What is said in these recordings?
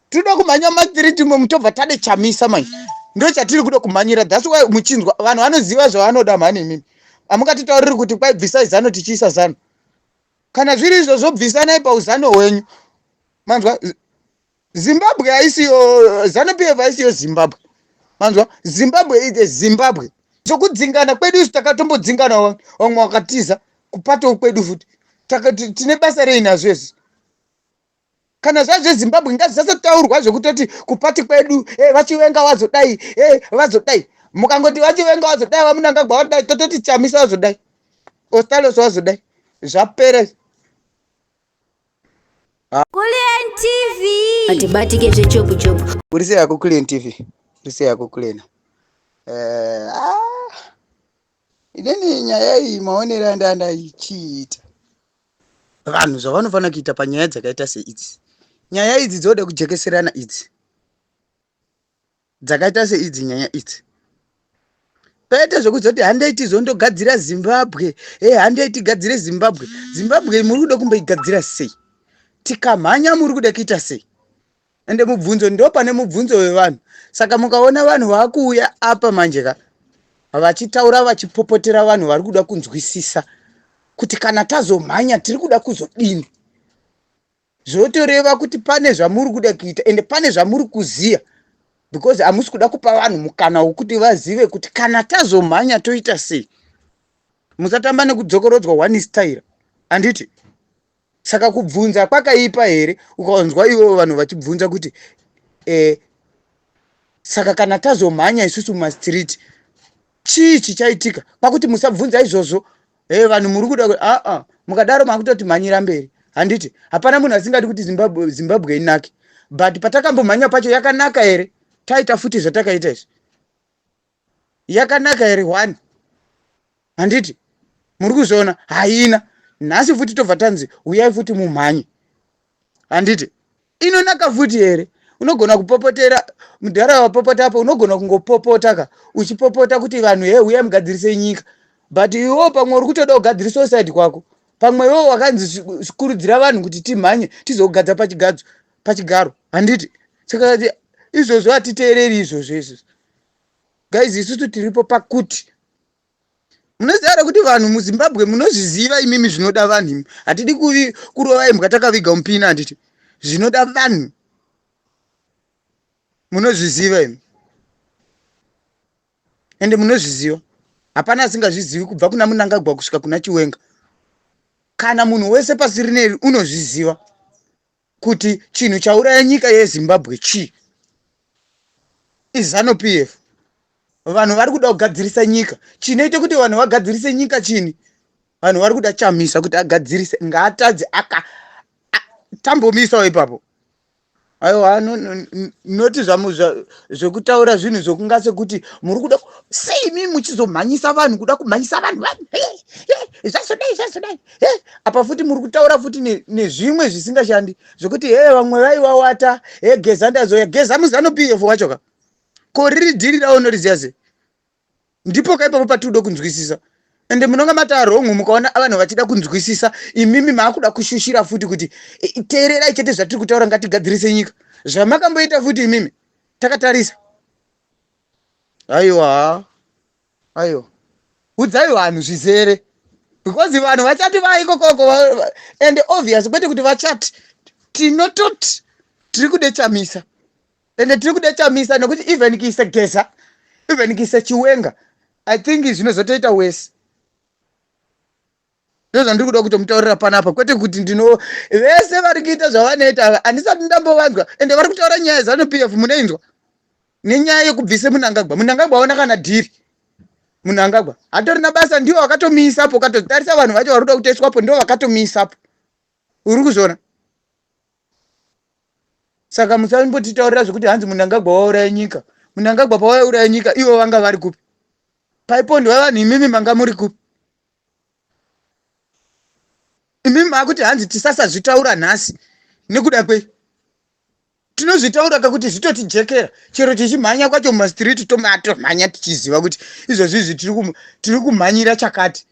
tinoda kumhanya matiri timwe mutobva tade chamisa manje ndo chatiri kuda kumhanyira thats why muchinzwa vanhu vanoziva zvavanoda mhani imimi amukatitauriri kuti kwai bvisai zano tichiisa zano kana zviri izvozvo bvisanai pauzano hwenyu manzwa zimbabwe haisiyo zano pf haisiyo zimbabwe manzwa zimbabwe ite zimbabwe zvokudzingana kwedu isu takatombodzingana vamwe wakatiza kupatawo kwedu futi tine basa rei nazvo izvi kana zvaa zvezimbabwe ngazvisatotaurwa zvekutoti kupati kwedu e vachivenga wazodai e vazodai mukangoti vachivenga wazodai vamunangagwa wadai tototi chamisa wazodai ostalos wazodai zvapere Kulien TV. Atibatike zvechopu chopu. Urise yako Kulien TV. Urise yako Kulien. Eh, ah. Inini nyaya iyi maonera ndanda ichiita. vanhu zvavanofanira kuita panyaya dzakaita seidzi nyaya idzi dzoda kujekeserana idzi dzakaita seidzi nyaya idzi pete zvekuzoti handei tizondogadzira zimbabwe e handei tigadzire zimbabwe zimbabwe muri kuda kumboigadzira sei tikamhanya muri kuda kuita sei ende mubvunzo ndo pane mubvunzo wevanhu saka mukaona vanhu vakuuya apa manje ka vachitaura vachipopotera vanhu vari kuda kunzwisisa kuti kana tazomhanya tiri kuda kuzodini zvotoreva kuti pane zvamuri kuda kuita ende pane zvamuri kuziva because hamusi kuda kupa vanhu mukana wokuti vazive kuti kana tazomhanya toita sei musatamba nekudzokorodzwa one style handiti saka kubvunza kwakaipa here ukaonzwa ivo vanhu vachibvunza kuti eh, saka kana tazomhanya isusu mumastreet chii chichaitika kwakuti musabvunza izvozvo hey, eh, vanhu muri kuda aa ah, ah, mukadaro makutoti mhanyira mberi handiti hapana munhu asingadi kuti zimbabwe, zimbabwe inake but patakambomhanya pacho yakanaka here taita futi zvatakaita izvi yakanaka here one handiti muri kuzviona haina nhasi futi tobva tanzi huyai futi mumhanye handiti inonaka futi here unogona kupopotera mudhara wapopota apo unogona kungopopota ka uchipopota kuti vanhu he uya mugadzirise nyika but iwewo pamwe uri kutoda kugadzirisa usaidi kwako pamwe iwewo wakanzi kurudzira vanhu kuti timhanye tizogadza pachigadzo pachigaro handiti saka izvozvo hatiteereri izvozvo izvozvo guys isusu tiripo pakuti munoziva here kuti vanhu muzimbabwe munozviziva imimi zvinoda vanhu imi hatidi kurova imbwa takaviga mupina handiti zvinoda vanhu munozviziva imi ende munozviziva hapana asingazvizivi kubva kuna munangagwa kusvika kuna chiwenga kana munhu wese pasi rineri unozviziva kuti chinhu chauraya nyika yezimbabwe chii izano p f vanhu vari kuda kugadzirisa nyika chinoita kuti vanhu vagadzirise nyika chini vanhu vari kuda chamisa kuti agadzirise ngaatadze aka tambomisawo ipapo aiwa noti zvekutaura zvinhu zvokunga sekuti muri kuda seimi muchizomhanyisa vanhu kuda kumhanyisa vanhu vanhu zvazodai zvazodai Hey, apa futi muri kutaura futi nezvimwe ne zvisingashandi zvekuti hee hey, vamwe vaivawata he hey, geza ndazoya geza muzanu pf wacho ka ko riri dhiri ravo noriziva sei ndipo ka ipapo patiri kuda kunzwisisa ende munonga mataa wrong mukaona vanhu vachida kunzwisisa imimi maakuda kushushira futi kuti e, e, teererai chete zvatiri kutaura ngatigadzirise nyika zvamakamboita futi imimi takatarisa aiwa Ayo. Udzai vanhu zvizere. Because vanhu vachati vaiko koko and obvious kwete kuti vachati tinototi tiri kude chamisa and tiri kude chamisa nokuti even kiisa geza even kiisa chiwenga i think zvinozotoita wese ndozvandiri kuda kutomutaurira panapa kwete kuti ndino vese vari kuita zvavanoita ava handisati ndambovanzwa ende vari kutaura nyaya zanu p f munoinzwa nenyaya yekubvise munangagwa munangagwa aona kana dhiri munangagwa hatorina basa ndiwo vakatomiisapo katotarisa vanhu vacho vari kuda kutoiswapo ndiwo vakatomiisapo uri kuzviona saka musambotitaurira zvekuti hanzi munangagwa wauraya nyika munangagwa pawaiuraya nyika ivo vanga vari kupi paipondiwa vanhu imimi manga muri kupi imi makuti hanzi tisasazvitaura nhasi nekuda kwei tinozvitaura kakuti zvitotijekera chero tichimhanya kwacho mumastreet tomatomhanya tichiziva kuti izvozvi izvi tiri kumhanyira chakati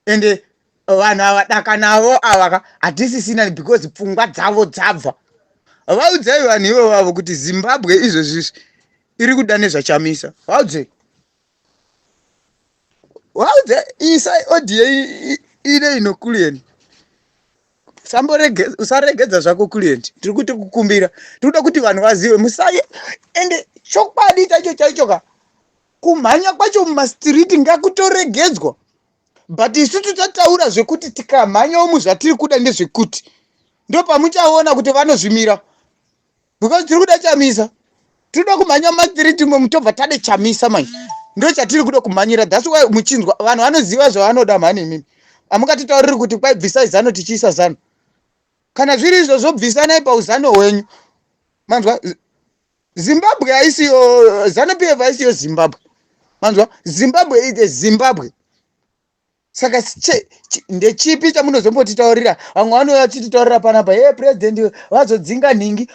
ende vanhu ava daka navo ava ka hatisisina because pfungwa dzavo dzabva vaudzai vanhu ivo vavo kuti zimbabwe izvozvizvi iri kuda nezvachamisa vaudzei wauze isa audio ine inokuliyeni samboregedza usaregedza zvako kuliyeni tiri kuti kukumbira tiri kuda kuti vanhu vazive musaye ende chokwadi chaicho chaicho ka kumhanya kwacho mumastiriti ngakutoregedzwa but isu tichataura zvekuti tikamhanyawo muzvatiri kuda ndezvekuti ndopamuchaona kuti vanozvimira because tiri kuda chamisa tinoda kumhanya mathree timwe mutobva tade chamisa manje ndo chatiri kuda kumhanyira thats why muchinzwa vanhu vanoziva zvavanoda mhani imimi hamukatitauriri kuti kwai bvisai zano tichiisa zano kana zviri izvozvo bvisanai pauzano hwenyu manzwa zimbabwe haisiyo zanu pf haisiyo zimbabwe manzwa zimbabwe ite zimbabwe saka ndechipi chamunozombotitaurira vamwe vanouya vachititaurira panapa hee purezidendi vazodzinga nhingi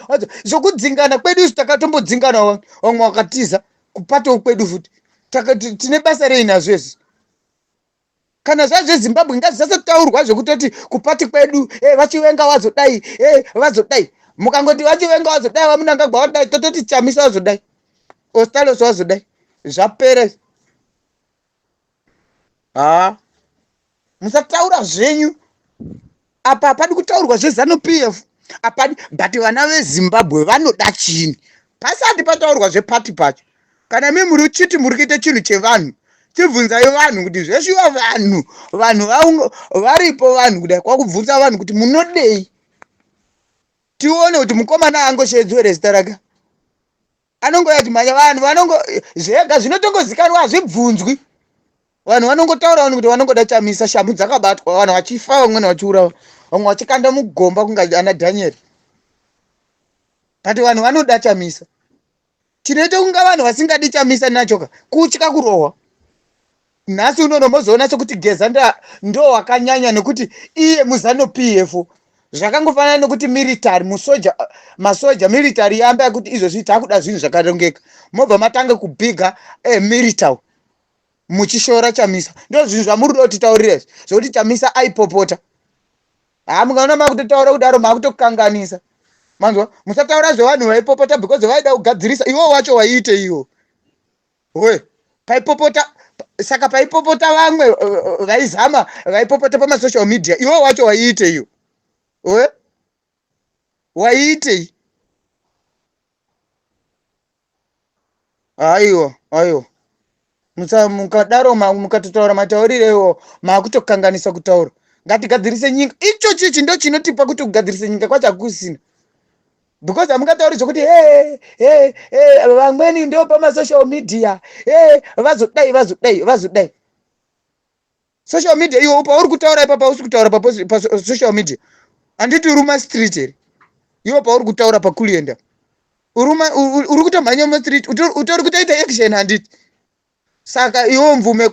zvokudzingana kwedu isu takatombodzinga navo vamwe vakatiza kupatawo kwedu futi tine basa rei nazvo izvi kana zvazvezimbabwe ngazvisatotaurwa zvekutoti kupati kwedu e vachivenga vazodai e vazodai mukangoti vachivenga vazodai vamunangagwa vadai tototi chamisa vazodai ostalos vazodai zvapera haa musataura zvenyu apa hapadi kutaurwa zvezanu p f hapadi but vana vezimbabwe vanoda chini pasati pataurwa zvepati pacho kana mi muri chiti muri kuita chinhu chevanhu chibvunzai vanhu kuti zveshuwa vanhu vanhu varipo vanhu kudai kwakubvunza vanhu kuti munodei tione kuti mukomana angoshedzwe rezita rake anongouya achimhanya vanhu vanongo zvega zvinotongozikanwa hazvibvunzwi vanhu vanongotaura vanhu kuti vanongoda chamisa shamu dzakabatwa vanhu vachifa vamwene vachiurawa vamwe vachikanda mugomba kunga ana dhanieri but vanhu vanoda chamisa tinoita kunga vanhu vasingadi chamisa nachoka kutya kurohwa nhasi unono mozoona sekuti geza ndo wakanyanya nekuti iye muzano pf zvakangofanana nekuti military musoja masoja military yamba yekuti izvozvi takuda zvinhu zvakarongeka mobva matange kubhiga eh, military muchishora chamisa ndo zvinhu zvamuri do titaurira izvi zvekuti chamisa aipopota haa mukaona makutotaura kudaro makutokanganisa manzwa musataura zvevanhu vaipopota because vaida kugadzirisa iwo wacho waiite iwo Oe, paipopota saka paipopota vamwe eh, eh, vaizama vaipopota pamasocial media iwe wacho waiiteiwo oe waiitei aiwa aiwa mukadaro mukatotaura matauriro iwo maakutokanganisa kutaura ngatigadzirise nyika ichochi ichi ndo chinotipa kuti kugadzirise nyika kwacho hakusina because hamungatauri zvekuti he he he vamweni ndo pamasocial media he vazodai vazodai vazodai social media iwo pauri kutaura ipapa usi kutaura pasocial media handiti uri mastreet here iwo pauri kutaura pakulienda uri kutomhanya mastreet utori kutoita action handiti saka iwo mvume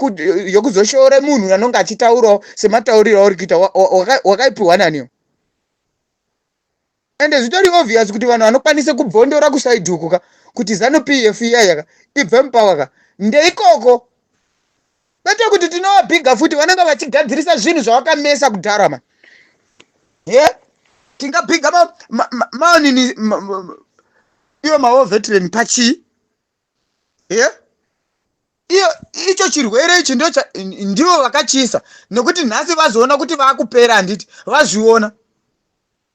yokuzoshoora munhu anonge achitaurawo sematauriro auri kuita wakaipiwa naniwo and zvitori obvious kuti vanhu vanokwanisa kubvondora kuside uku ka kuti zanu pf iyaya ka ibve mupower ka ndeikoko kwete kuti tinowabhiga futi vanenge vachigadzirisa zvinhu zvavakamesa kudhara ma he tingabhiga maonini iwo mawo veteran pachii he iyo icho chirwere ichi ndo ndivo vakachiisa nokuti nhasi vazoona kuti vakupera handiti vazviona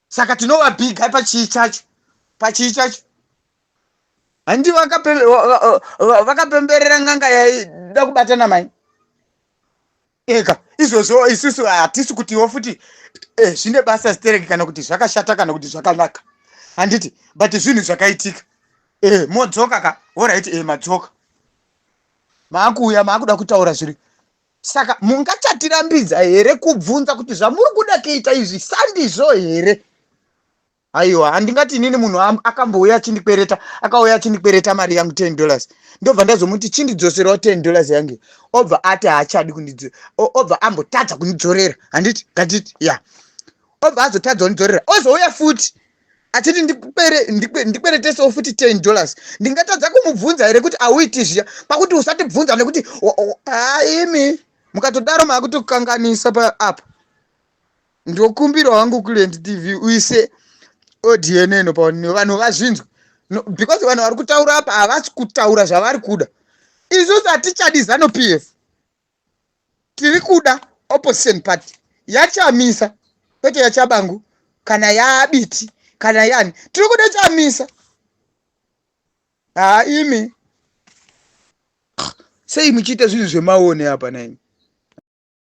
saka tinova big guy pachii chacho pachii chacho handi vakapemberera nganga yaida kubatana mai eka izvozvo isusu hatisi kutiwo futi eh, zvine basa stereki kana kuti zvakashata kana kuti zvakanaka handiti but zvinhu zvakaitika eh, modzoka ka orit eh, madzoka maakuuya maakuda kutaura zviri Saka mungachatirambidza here kubvunza kuti zvamuri kuda kuita izvi sandizvo here? Aiwa, handingati inini munhu akambouya achindikwereta, akauya achindikwereta mari yangu 10 dollars. Ndobva ndazomuti chindidzoserawo 10 dollars yangu. Obva ati haachadi kundidzo, obva ambotadza kundidzorera. Handiti? Ngatiti, ya. Yeah. Obva azotadza kundidzorera. Ozouya futi. achiti ndikweretesewo futi 10 dollars ndingatadza kumubvunza here kuti auiti zviya pakuti usatibvunza nekuti haimi mukatodaro maakutokanganisa paapa ndokumbira wangu kuland tv uise odnn paonini vanhu vazvinzwa because vanhu vari kutaura apa havasi kutaura zvavari kuda isusu hatichadi zano p f tiri kuda opposition party yachamisa kwete yachabangu kana yaabiti kana yani tiri kuda chamisa haa imi sei muchiita zvinhu zvemaone apa naimi